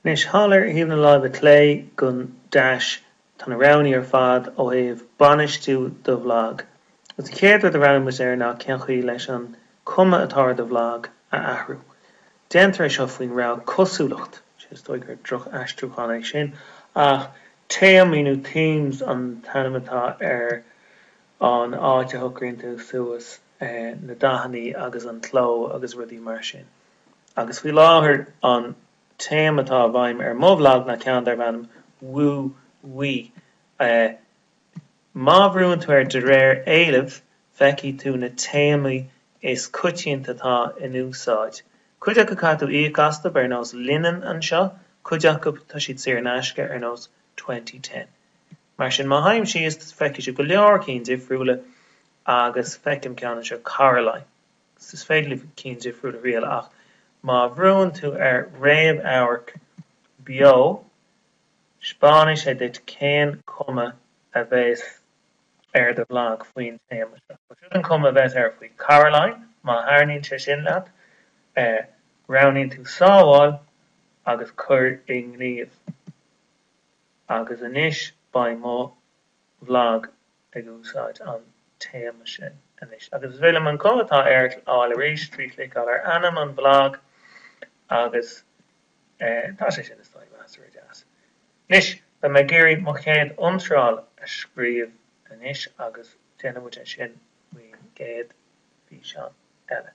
Anois thall ar thaobh na láimhe clé den deais tá na roghannaí ar fad ó thaobh bainistiú do bhlag. Agus an chéad rud a bhreathnóidh muid air ná cén chaoi leis an cuma atá ar do bhlag a athrú. Déantar é seo faoin rogha cosúlacht, sé is dóigh gur droch-aistriúchán é sin ach téamaí nó themes an t-ainm atá ar an áit a shocraíonn tú suas na dathannaí agus an cló agus rudaí mar sin. agus faoi láthair an téama atá i bhfeidhm ar mo bhlag ná ceann darb ainm Woo Wee. Má bhrúann tú ar de réir éilimh, feicfidh tú na téamaí is coitianta atá in úsáid. Cuid acu caithfidh tú íoc astu, ar nós Linen anseo, cuid acu tá siad saor in aisce, ar nós Twenty Ten. Mar sin, má théim síos, feicfidh tú go leor cinn difriúla, agus feicim ceann anseo, Caroline. is féidir libh cinn difriúla a thriail ach má bhrúnn tú ar réamhamharc beo spáinfidh sé duit cén cuma a bheas ar do bhlag faoin téama seo. Seo an cuma a bheas air faoi Caroline, má thaitníonn sé sin leat, roghnaíonn tú sábháil agus cuir i ngníomh. Agus anois beidh mo bhlag ag úsáid an téama sin anois, agus is féidir liom an cuma atá air a fheiceáil arís trí chliceáil ar ainm an bhlag, agus tá sé sin, is dóigh, measartha deas. Anois, beidh mé ag iarraidh mo chéad iontráil a scríobh anois, agus déanfaidh muid é sin faoin gcéad físeán eile.